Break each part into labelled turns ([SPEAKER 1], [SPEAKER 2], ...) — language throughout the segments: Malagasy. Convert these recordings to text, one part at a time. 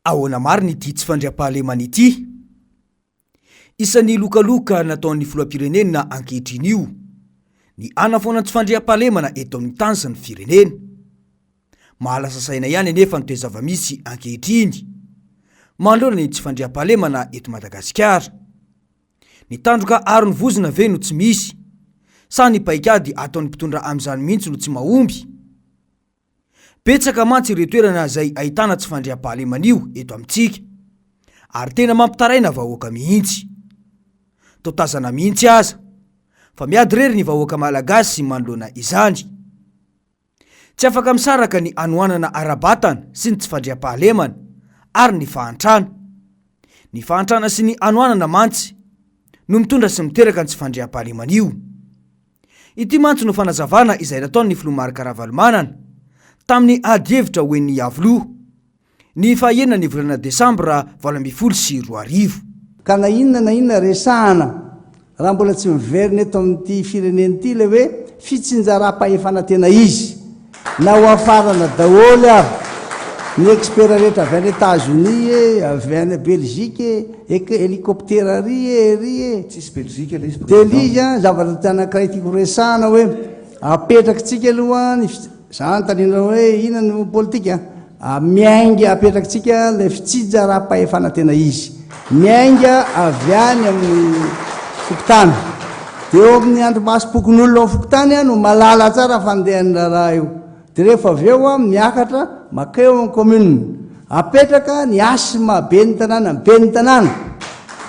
[SPEAKER 1] Ahoana marina ity tsy fandriampahalemana ity? Isan'ny lokaloka nataon'ny filohampirenena ankehitriny io ny hanafoana ny tsy fandriampahalemana eto amin'ny tany sy ny firenena. Mahalasa saina ihany anefa ny toe-javamisy ankehitriny manoloana ny tsy fandriampahalemana eto Madagasikara. Ny tandroka aron'ny vozona ve no tsy misy? Sa ny paikady ataon'ny mpitondra amin'izany mihitsy no tsy mahomby? Betsaka mantsy ireo toerana izay ahitana tsy fandriampahalemana io eto amintsika. Ary tena mampitaraina vahoaka mihitsy. Toa tazana mihitsy aza. Fa miady irery ny vahoaka malagasy manoloana izany. Tsy afaka misaraka ny hanoanana ara-batana sy ny tsy fandriampahalemana ary ny fahantrana. Ny fahantrana sy ny hanoanana mantsy no mitondra sy miteraka ny tsy fandriampahalemana io. Ity mantsy no fanazavana izay nataon'ny Filoha Marc Ravalomanana tamin'ny adihevitra ho en'ny Iavoloha. ny fahaenina ny volana desambra valo ambin'ny folo sy roa arivo. Ka na
[SPEAKER 2] inona na inona resahana, raha mbola tsy miverina eto amin'ity firenena ity ilay hoe fitsinjaram-pahefana tena izy, na hoafarana daholo ary ny expert rehetra avy any Etats-Unis e, avy any Belgique e, eka helicoptera ary e, ery e. Tsisy Belgique ilay
[SPEAKER 3] izy President. Delija, zavatra
[SPEAKER 2] anankiray tiako resahana hoe, apetrakintsika aloha ny. Za anontaniana hoe ina no politika? Miainga apetrakitsika ilay fitsijaram-pahefana tena izy. Miainga avy any amin'ny fokontany. Dia eo amin'ny andrimasom-pokonolona ao fokontany no malala tsara ny fandehan'ny raharaha io. Dia rehefa avy eo miakatra makeo amin'ny commune. Apetraka ny hasy maha ben'ny tanàna ny ben'ny tanàna.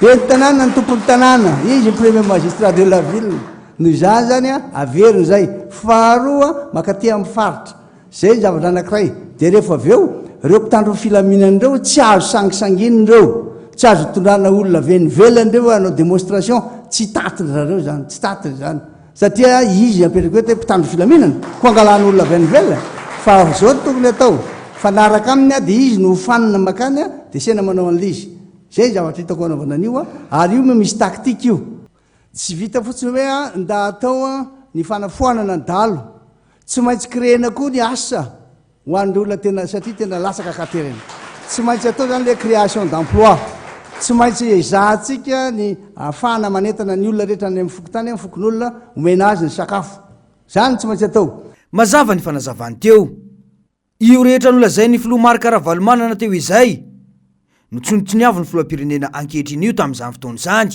[SPEAKER 2] Ben'ny tanàna ny tompon'ny tanàna. Izy ny premier magistrat de la ville. Noho izany izany, averina izay. Faharoa, mankaty amin'ny faritra. Izay ny zavatra anankiray. Dia rehefa avy eo, ireo mpitandro ny filaminana ireo tsy azo sangisanginina ireo. Tsy azo itondrana olona avy any ivelany ireo hoe hanao démonstration. Tsy tatindry zareo izany. Tsy tatindry izany. Satria izy apetrako eto hoe mpitandro ny filaminana. Koa angalana olona avy any ivelany. Fa izao no tokony hatao. Mifanaraka aminy dia izy no hofanina mankany dia sena manao an'ilay izy. Izay ny zavatra hitako hanaovana an'io. Ary io moa misy tactique io. Tsy vita fotsiny hoe a nda atao a ny fanafoanana ny dalo, tsy maintsy créena koa ny asa ho an'ireo olona tena satria tena latsaka ka terena. Tsy maintsy atao izany hoe création d'emploi. Tsy maintsy ezahantsika ny ahafahana manentana ny olona rehetra any amin'ny fokontany, amin'ny fokonolona, omena azy ny sakafo. Izany no tsy maintsy atao. Mazava ny fanazavany
[SPEAKER 1] teo. Io rehetra nolazain'ny filoha Marc Ravalomanana teo izay no tsinotsiniavin'ny filoham-pirenena ankehitriny io tamin'izany fotoana izany.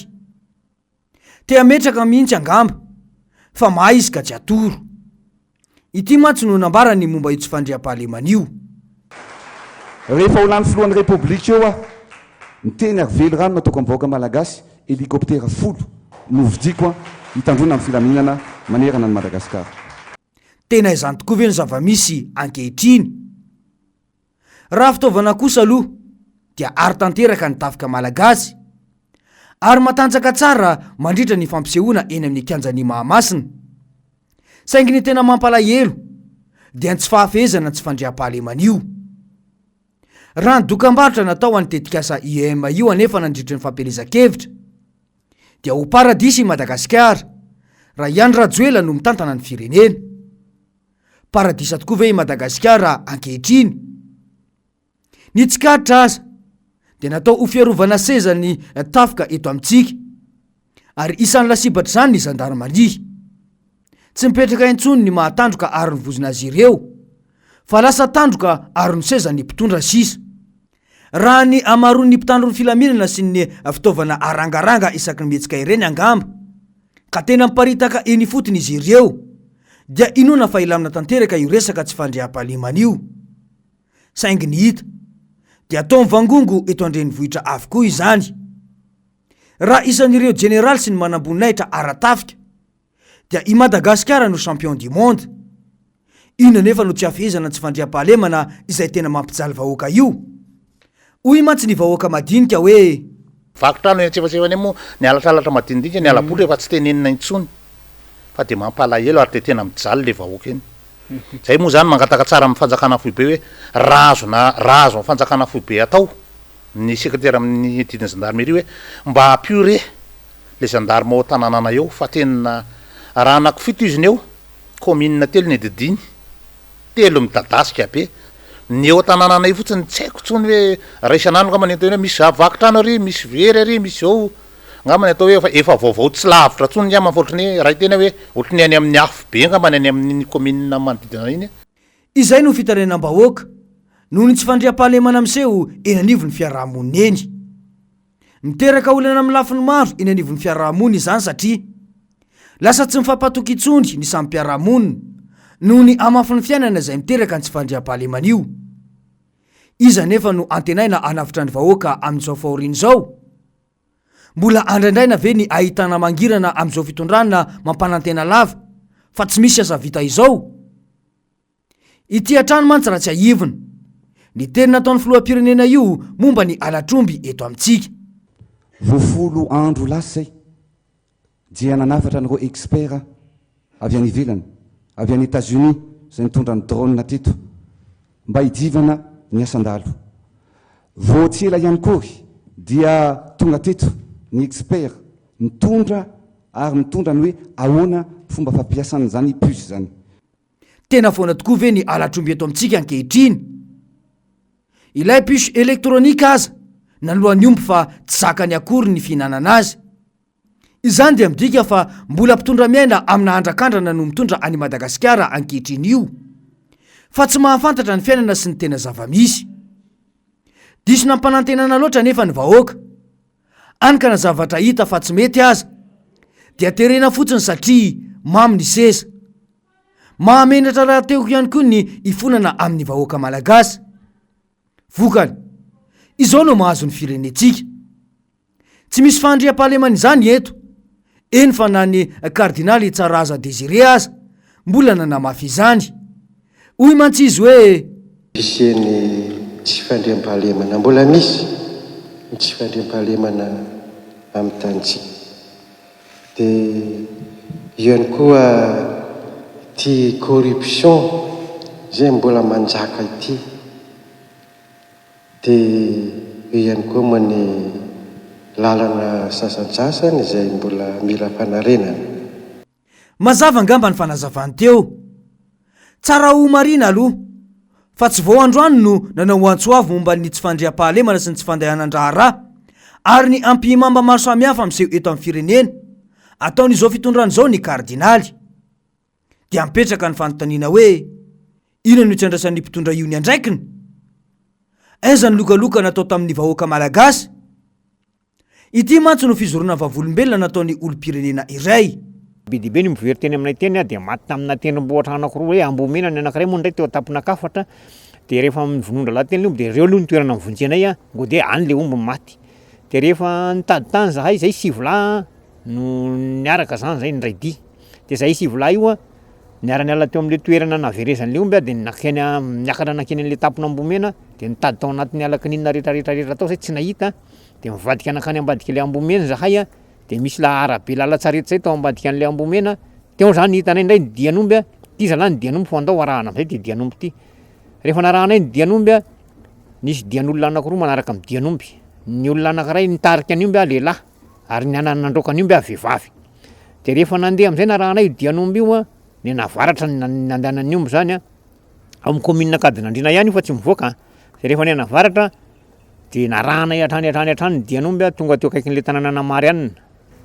[SPEAKER 1] Te hametraka mihitsy angamba fa mahay izy ka tsy atoro. Ity mantsy no nambarany momba io tsy fandriampahalemana io.
[SPEAKER 3] Rehefa ho lany filohan'ny Repoblika eo aho, ny teny ary velirano nataoko amin'ny vahoaka malagasy, helicoptera folo no hovidiako hitandroana ny filaminana manerana an'i Madagasikara. Tena
[SPEAKER 1] izany tokoa ve ny zava-misy ankehitriny? Raha fitaovana kosa aloha dia aro tanteraka ny tafika malagasy ary matanjaka tsara mandritra ny fampisehoana eny amin'ny kianjan'i Mahamasina. Saingy ny tena mampalahelo dia ny tsy fahafehezana ny tsy fandriampahalemana io. Raha ny dokam-barotra natao an'ny tetikasa IEM io anefa nandritry ny fampielezan-kevitra, dia ho paradisa i Madagasikara raha i Andry Rajoelina no mitantana ny firenena. Paradisa tokoa ve i Madagasikara ankehitriny? Ny tsikaritra aza dia natao ho fiarovana seza ny tafika eto amintsika ary isan'ny lasibatr'izany ny zandarimaria. Tsy mipetraka intsony ny mahatandroka aron'ny vozon'azy ireo fa lasa tandroka aron'ny seza ny mpitondra sisa. Raha ny hamaroan'ny mpitandro ny filaminana sy ny fitaovana arangaranga isaky ny mihetsika ireny angamba, ka tena miparitaka eny ifotony izy ireo, dia inoana fa hilamina tanteraka io resaka tsy fandriampahalemana io. Saingy ny hita, dia toa mivangongo eto an-drenivohitra avokoa izany. Raha isan'ireo jeneraly sy ny manamboninahitra ara-tafika, dia i Madagasikara no champion du monde. Inona anefa no tsy hafehezana ny tsy fandriampahalemana izay tena mampijaly vahoaka io? Hoy mantsy ny vahoaka madinika hoe. Vaky trano eny
[SPEAKER 4] antsefatsefany eny moa ny halatralatra madinidinika, ny hala-boly rehefa tsy tenenina intsony. Fa dia mampalahelo ary dia tena mijaly ilay vahoaka eny. Izay moa izany mangataka tsara amin'ny fanjakana foibe hoe raha azona raha azon'ny fanjakana foibe atao. ny sekretera amin'ny didin'ny zandarmeria hoe mba ampio re le zandarme ao tananana eo fa tena raha anakifito izy ny eo commune telo ny didiny telo midadasika be ny eo tananana io fotsiny tsy haiko tsony hoe raha isan'andro ngamba ny atao hoe misy vaky trano ary misy very ary misy zao ngamba ny atao hoe efa efa vaovao tsy lavitra tsony ngamba fa ohatry ny hoe raha iteny hoe ohatry ny any amin'ny afo be ngamba ny any amin'ny commune manodidina iny Izay no
[SPEAKER 1] fitarainam-bahoaka noho ny tsy fandriampahalemana miseho eny anivon'ny fiarahamonina eny. Miteraka olana amin'ny lafiny maro eny anivon'ny fiarahamonina izany satria lasa tsy mifampatoky intsony ny samy mpiara-monina noho ny hamafin'ny fiainana izay miteraka ny tsy fandriampahalemana io. Iza anefa no antenaina hanavotra ny vahoaka amin'izao fahoriana izao? Mbola andraindraina ve ny ahitana mangirana amin'izao fitondrana mampanantena lava fa tsy misy aza vita izao? Ity hatrany mantsy raha tsiahivina, ny teny nataon'ny filoham-pirenena io momba ny halatr'omby eto amintsika. Voafolo
[SPEAKER 3] andro lasa i. Dia nanafatra an'ireo experts avy any ivelany, avy any Etats-Unis izay nitondra ny drones teto mba hidivana ny asan-dalo. Vao tsy ela ihany koa ry dia tonga teto ny experts nitondra ary mitondra ny hoe ahoana fomba fampiasana an'izany puce izany. Tena
[SPEAKER 1] foana tokoa ve ny halatr'omby eto amintsika ankehitriny? Ilay puce électronique aza naloa ny omby fa tsy zakany akory ny fihinanana azy. Izany dia midika fa mbola mpitondra miaina amina andrakandrana no mitondra an'i Madagasikara ankehitriny io. Fa tsy mahafantatra ny fiainana sy ny tena zava-misy. Diso nampanantenana loatra anefa ny vahoaka. any ka na zavatra hita fa tsy mety aza dia terena fotsiny satria mamy ny seza. Mahamenatra rahateo ihany koa ny ifonana amin'ny vahoaka malagasy. Vokany, izao no mahazo ny firenentsika. Tsy misy fahandriampahalemana izany eto eny fa na ny kardinaly Tsaraza Désiré aza mbola nanamafy izany. Hoy mantsy izy hoe. Hisian'ny
[SPEAKER 5] tsy fandriampahalemana, mbola misy ny tsy fandriampahalemana amin'ny tanintsika. Dia io ihany koa ity corruption izay mbola manjaka ity. Dia eo ihany koa moa ny lalana sasantsasany izay mbola mila fanarenana.
[SPEAKER 1] Mazava angamba ny fanazavany teo. Tsara ho marihina aloha, fa tsy vao androany no nanao ho antso avo momba ny tsy fandriampahalemana sy ny tsy fandehanan-draharaha, ary ny ampihimamba maro samihafa miseho eto amin'ny firenena, ataon'izao fitondrana izao ny kardinaly. Dia mipetraka ny fanontaniana hoe, inona no isandrasan'ny mpitondra io ny andraikiny? Aiza ny lokaloka natao tamin'ny vahoaka malagasy? Ity mantsy no fizoroana vavolombelona nataon'ny olom-pirenena iray. Bedibe ny mivoery
[SPEAKER 6] teny aminay teny dia maty tamina tendrombohitra anakiroa hoe Ambomena ny anakiray moa indray teo an-tampon'Akafatra dia rehefa amin'ny vonoan-drahalahy teny omby dia ireo aloha ny toerana mivonjy anay a ngo dia any le omby maty dia rehefa nitady tany zahay zay sivy lahy no niaraka zany zay ny raidia Dia zahay sivolahy io an, niara-niala teo amin'ilay toerana naverezan'ilay omby aho dia nankeny am, niakatra nankeny an'ilay tampon'Ambomena dia nitady tao anatin'ny ala kininina rehetrarehetra rehetra tao zahay tsy nahita an, dia nivadika nankany ambadik'ilay Ambomena zahay an, dia misy la- arabe lalan-tsarety zay tao ambadika an'ilay Ambomena, teo zany ny hitanay indray ny dian'omby an, ty zalahy ny dian'omby fa andao arahana am'zay ty dian'omby ty, rehefa narahanay ny dian'omby an, nisy dian'olona anakiroa manaraka ny dian'omby, ny olona anakiray nitarika ny omby an lehilahy, Ary ny anana nandroaka an'io mby avy vehivavy. Dia rehefa nandeha amin'izay narahanay io dian'omby io an, ny navaratra ny nandehanan'ny omby izany an, ao amin'ny commune Ankadinandriana ihany io fa tsy mivoaka an, dia rehefa ny navaratra dia narahanay hatrany hatrany hatrany ny dian'omby an, tonga teo akaikin'ilay tananan'i Marianina.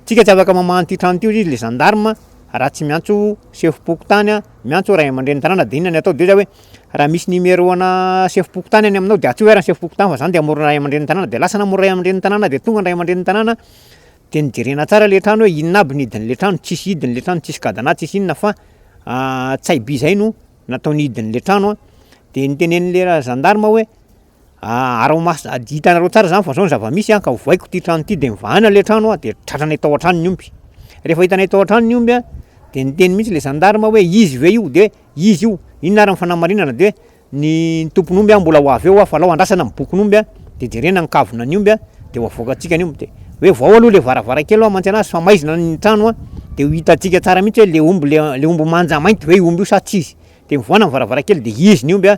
[SPEAKER 6] Tsika tsy afaka mamaha an'ity trano ity hoy izy le gendarme raha tsy miantso sefom-pokontany an, miantso ray aman-drenin'ny tanàna dia inona ny atao dia hoy za hoe Raha misy numéro ana sefom-pokontany any aminao de atsio ary ny sefom-pokontany fa zany de amoron'ny ray aman-drenin'ny tanàna, de lasa namory ray aman-drenin'ny tanàna de tonga ny ray aman-drenin'ny tanàna de nojerena tsara le trano hoe inona aby ny hidin'le trano, tsisy hidiny le trano, tsisy cadenas, tsisy inona fa tsaiby zay no nataony hidin'le trano an, de notenen'le ra- zandary hoe. araho-maso tsara, hitanareo tsara zany fa zao ny zava-misy an, ka ovaiko ty trano ty de mivahana le trano an, de tratranay tao an-trano ny omby, refa hitanay tao an-trano ny omby an, de niteny mintsy le gendarme hoe izy ve io, de izy io, inona ary ny fanamarinana, de ny tompon'omby an mbola ho avy eo an, fa alao andrasana ny bokin'omby an, de jerena ny kavina ny omby an, de ho avoakantsika ny omby, de hoe vao aloha le varavarankely hoe amantsana azy fa maizina ny trano an, de ho hitantsika tsara mintsy hoe le omby le omby manja mainty ve io omby io sa tsy izy, de mivohana ny varavarankely de izy ny omby an,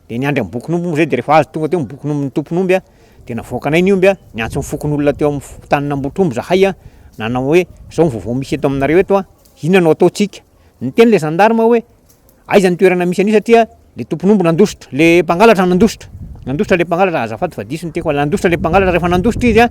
[SPEAKER 6] de niandry ny bokin'omby moa zay de rehefa avy tonga teo ny bokin'omby ny tompon'omby a de navoakanay ny omby a niantso ny fokonolona teo amin'ny f- tany nambotr'omby zahay a nanao hoe zao ny vaovao misy eto aminareo eto a inona no ataontsika niteny le gendarme hoe aiza ny toerana misy an'io satria le tompon'omby nandositra le mpangalatra nandositra nandositra le mpangalatra azafady fa diso ny teny fa nandositra le mpangalatra rehefa nandositra izy a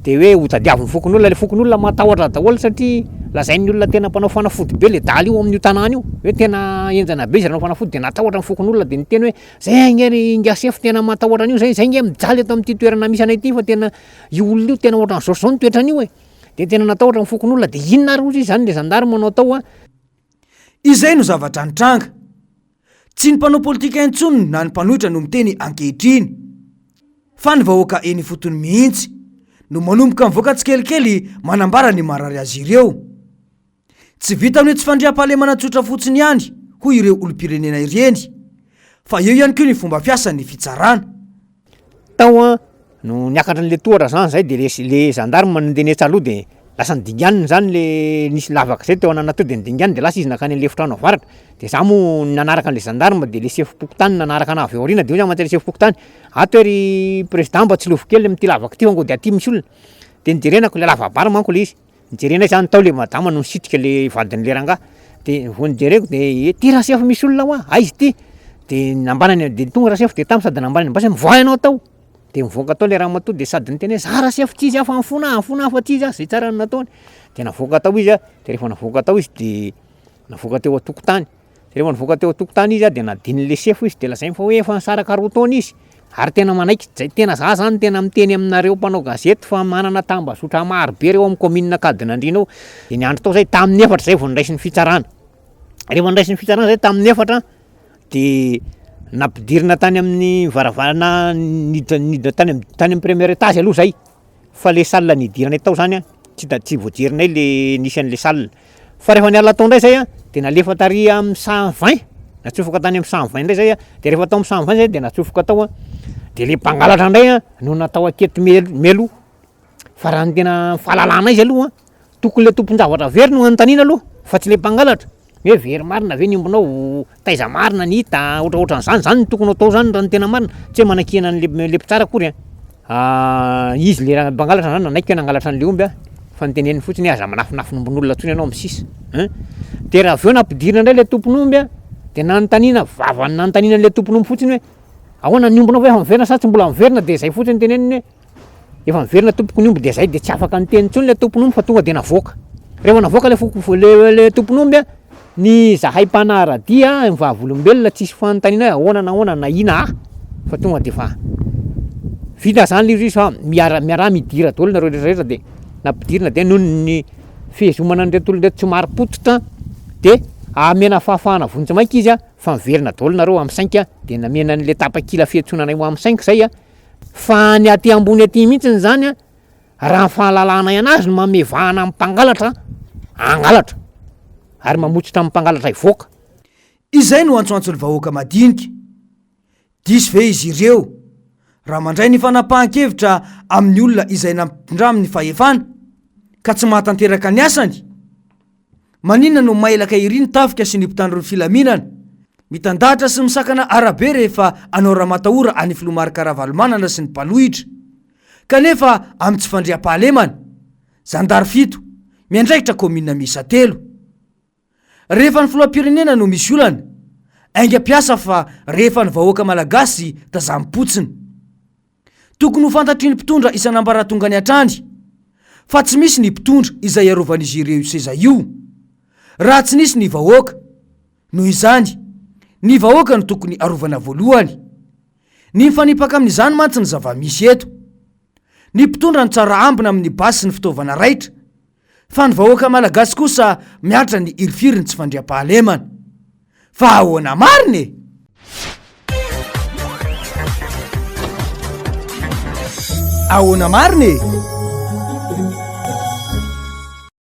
[SPEAKER 6] de hoe ho tadiavin'ny fokonolona, le fokonolona matahotra daholo satria lazain'ny olona tena mpanao fanafody be le dala io amin'io tanàna io, hoe tena henjana be izy raha hanao fanafody de natahotra ny fokonolona de niteny hoe zay ange ry ingahy sefo tena matahotra an'io zay, zay nge mijaly eto amin'ity toerana misy anay ty fa tena io olona io tena ohatran'ny zao sy zao ny toetran'io e, de tena natahotra ny fokonolona, de inona ary ozy zany le zandary manao tao an, Izay
[SPEAKER 1] no zavatra nitranga. Tsy ny mpanao politika intsony na ny mpanohitra no miteny ankehitriny, fa ny vahoaka eny ifotony mihitsy no manomboka mivoaka tsikelikely manambara ny marary azy ireo. Tsy vita amin'io tsy fandriampahalemana tsotra fotsiny ihany hoy ireo olom-pirenena ireny, fa eo ihany koa ny fomba fiasan'ny fitsarana. Tao
[SPEAKER 6] an, no niakatra an'le tohatra zany zay de le le gendarme nandeha nihetsy aloha de lasa nidinganiny zany le nisy lavaka zay teo ananan'aty teo de nidinganiny de lasa izy nankany an'le efitrano avaratra, de za moa nanaraka an'le gendarme de le sefom-pokontany nanaraka anah avy ao aoriana de hoy zah mantsy an'le sefom-pokontany, ato ery president mba tsilovy kely amin'ity lavaka ity fa ngo dia aty misy olona, de nojerenako, le lava-bary manko le izy. Nijerena izany tao le madama no nisitrika le vadin'le rangah de vao nijereko de eh, ty rasefo misy olona hoa, aiza ity? de nambanany de tonga rasefo de tam sady nambanany mbasy mivoaha ianao tao de mivoaka tao le ramatoa de sady niteny hoe za rasefo tsy izy aho fa ny fona aho, ny fona aho fa tsy izy aho, zay tsara ny nataony de navoaka tao izy a, de refa navoaka tao izy de navoaka teo an-tokotany. De refa nivoaka teo an-tokotany izy a de nadinin'ny le sefo izy de lazainy fa hoe efa nisaraka roa taona izy ary tena manaiky, zay tena za zany tena miteny aminareo mpanao gazety fa manana tambazotra marobe reo amin'ny kaominina Ankadinandriana ao, de niandry tao zay tamin'ny efatra zay vao niraisin'ny fitsarana, refa niraisin'ny fitsarana zay tamin'ny efatra de nampidirina tany amin'ny varavarana niditra niditra tany am- tany amin'ny premier étage aloha zay. fa le salle nidiranay tao zany tsy ta- tsy voajerinay le nisy an'le salle, fa rehefa niala tao ndray zay an, de nalefa tary amin'ny cent vingt, natsofoka tany amin'ny cent vingt ndray zay an, de rehefa tao amin'ny cent vingt zay de natsofoka tao an, de le mpangalatra ndray an no natao aketo mel- mialoha, fa raha ny tena fahalalanay zay aloha an. Tokony le tompon-javatra very no anontaniana aloha fa tsy le mpangalatra ny hoe very marina ve ny ombinao, taiza marina ny hita, ohatraohatran'izany, izany no tokony hatao izany raha ny tena marina, tsy hoe manakiana an'le le mpitsara akory an, an izy le mpangalatra zany nanaiky hoe nangalatra an'le omby an, fa ny teneniny fotsiny hoe aza manafinafin'ombin'olona tsony ianao misisa an, de raha avy eo nampidirina indray le tompon'omby an, de nanontaniana, vavany nanontaniana an'le tompon'omby fotsiny hoe ahoana ny ombinao ve efa miverina sa tsy mbola miverina, de zay fotsiny ny teneniny hoe. Efa niverina tompoko ny omby dia zay dia tsy afaka niteny intsony le tompon'omby fa tonga dia navoaka. Rehefa navoaka le foko le le tompon'omby a ny zahay mpanara-dia ny vavolombelona tsisy fanontaniana hoe ahoana na ahoana na ina ah fa tonga dia efa vita zany le izy fa miara miaraha midira daholo nareo rehetra rehetra dia nampidirina dia noho ny fihezomana an'ireto olona ireto tsy marim-pototra dia amena fahafahana vonjy maika izy a fa miverina daholo nareo amin'ny sainky a dia namena an'le tapakila fiantsoana anay ho amin'ny sainky zay a. fa any aty ambony aty mihitsy ny zany a raha ny fahalalanay anazy no mamevahana am mpangalatra angalatra ary mamotsitra am mpangalatra hivoaka Izay no
[SPEAKER 1] antsoantso ny vahoaka madinika. Diso ve izy ireo raha mandray ny fanapahan-kevitra amin'ny olona izay nampitondra amin'ny fahefana ka tsy mahatanteraka ny asany? Maninona no mailaka ery ny tafika sy ny mpitandro ny filaminana? Mitandahatra sy misakana arabe rehefa anao ramatahora any filoha Marc Ravalomanana sy ny mpanohitra. Kanefa amin'ny tsy fandriampahalemana. Zandary fito, miandraikitra kaominina miisa telo. Rehefa ny filohampirenena no misy olana, aingam-piasa fa rehefa ny vahoaka malagasy tazam-potsiny. Tokony ho fantatry ny mpitondra isan'ambaratongany hatrany fa tsy misy ny mpitondra izay arovan'izy ireo io seza io raha tsy nisy ny vahoaka. Noho izany, ny vahoaka no tokony arovana voalohany. Ny mifanipaka amin'izany mantsy ny zava-misy eto. Ny mpitondra no tsara ambina amin'ny basy sy ny fitaovana raitra. Fa ny vahoaka malagasy kosa miatra ny hirifiriny tsy fandriampahalemana. Fa ahoana marina e? Ahoana marina e?